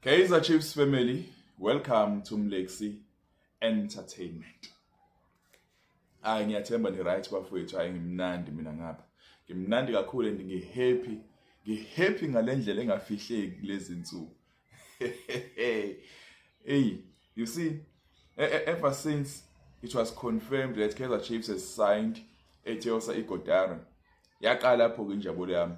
Kaizer Chiefs family, welcome to Mlexi Entertainment. Hayi ngiyathemba ni right bafowethu, hayi ngimnandi mina ngapha. Ngimnandi kakhulu and ngi happy. Ngi happy ngalendlela engafihleki lezi nsuku. Hey, you see, e, e, ever since it was confirmed that Kaizer Chiefs has signed Etiosa Igodaro, yaqala lapho ke injabulo yami.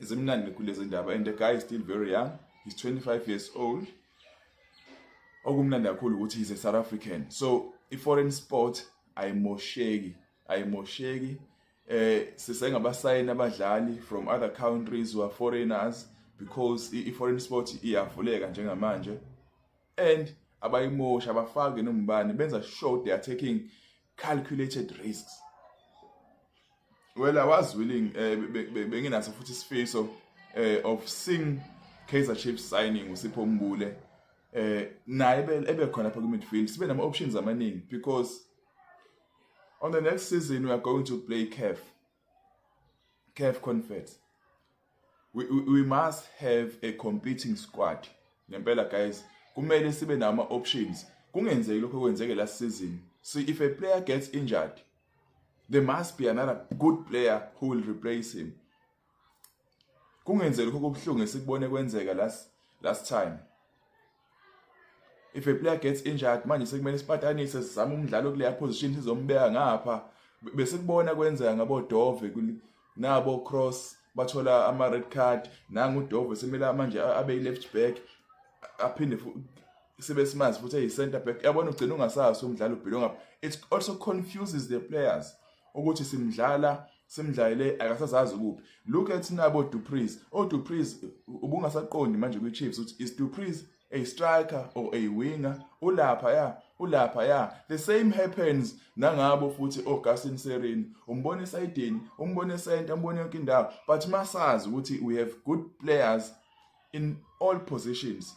zimnandi kulezi ndaba and the guy is still very young he's 25 years old okumnandi kakhulu ukuthi he's a south african so i-foreign sport ayimosheki ayimosheki eh sisengabasayini abadlali from other countries who are foreigners because i-foreign sport iyavuleka njengamanje and abayimoshi abafake nombani benza sure they are taking calculated risks well i was willing eh, benginaso futhi isifiso eh, of seeing Kaizer Chiefs signing uSipho Mbule eh naye ebe khona pha ku midfield sibe nama options amaningi because on the next season we are going to play CAF CAF Confeds we, we, we must have a competing squad ngempela guys kumele sibe nama options kungenzeki lokho kwenzeke last season so if a player gets injured there must be another good player who will replace him kungenzeki lokho kokuhlungu esikubone kwenzeka last last time if a player gets injured manje sekumele sipatanise sizame umdlalo kuleya position sizombeka ngapha bese kubona kwenzeka ngabo Dove nabo Cross bathola ama red card nangu Dove semela manje abe left back aphinde sibe simazi futhi eyi center back yabona ugcina ungasazi umdlalo ubhilo ngapha it also confuses the players ukuthi simdlala simdlalele akasazazi kuphi look at nabo Dupreez o oh, Dupreez ubungasaqondi manje kwi Chiefs uthi is Dupreez a striker or a winger ulapha ya ulapha ya the same happens nangabo futhi oGasin Serin umbona esidini umbona center umbona yonke indawo but masazi ukuthi we have good players in all positions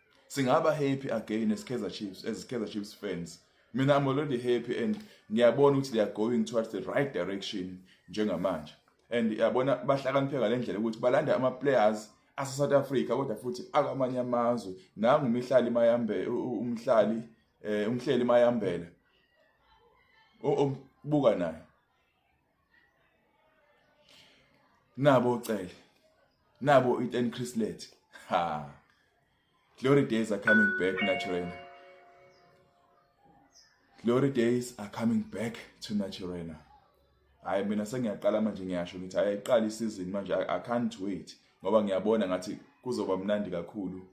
singaba happy again as Kaizer Chiefs as Kaizer Chiefs fans mina I'm already happy and ngiyabona ukuthi they are going towards the right direction njengamanje and yabona bahlakaniphe ngalendlela ukuthi balanda ama players ase South Africa kodwa futhi akamanye amazwe nangu umihlali mayambe umhlali eh umhleli mayambela obuka naye nabo ucele nabo i-ten chrislet ha glory days are coming back naturena glory days are coming back to naturena hayi mina sengiyaqala manje ngiyasho ngithi hayi ayiqala isizini manje i can't wait ngoba ngiyabona ngathi kuzoba mnandi kakhulu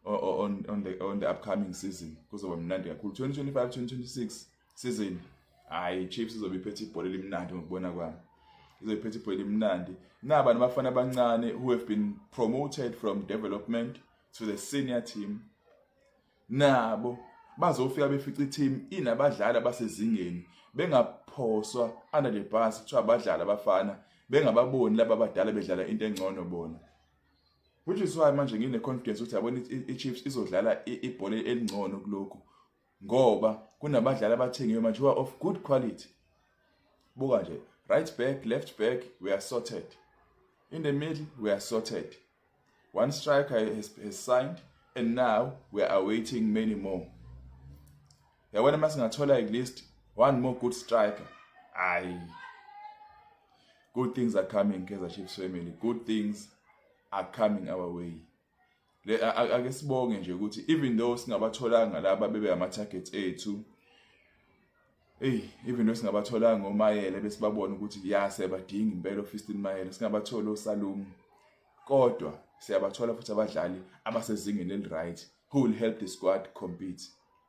on, on, the, on the upcoming season kuzoba mnandi kakhulu 2025 2026 season hayi chiefs izobe iphethe ibhola elimnandi ngokubona kwami izobe iphethe ibhola elimnandi naba nabafana abancane who have been promoted from development to the senior team nabo bazofika befica i-team inabadlali abasezingeni bengaphoswa under the bus kuthiwa abadlali abafana bengababoni laba abadala bedlala into engcono bona which is why manje ngine confidence ukuthi yabona iChiefs izodlala ibhola elingcono kulokhu ngoba kunabadlali abathengiwe manje who are of good quality buka nje right back left back we are sorted in the middle we are sorted one striker has, has signed and now we are awaiting many more yabona uma singathola at least one more good striker ayi good things are coming Kaizer Chiefs family good things are coming our way le ake sibonge nje ukuthi even though singabatholanga laba bebe ama targets ethu Ey even though singabatholanga ngomayele besibabona ukuthi ya siyabadinga impela ofisini mayele singabathola osalumu kodwa siyabathola futhi abadlali abasezingeni eliright who will help the squad compete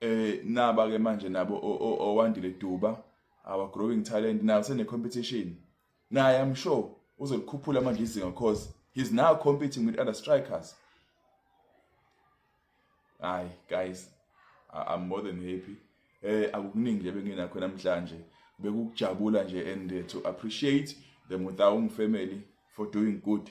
eh naba ke manje nabo owandile duba our growing talent nayo sene competition naye i'm sure uzolikhuphula manje izinga because he's now competing with other strikers hayi guys i'm more than happy eh akukuningi nje benginakho namhlanje bekukujabula nje and eh, to appreciate the Mutaung family for doing good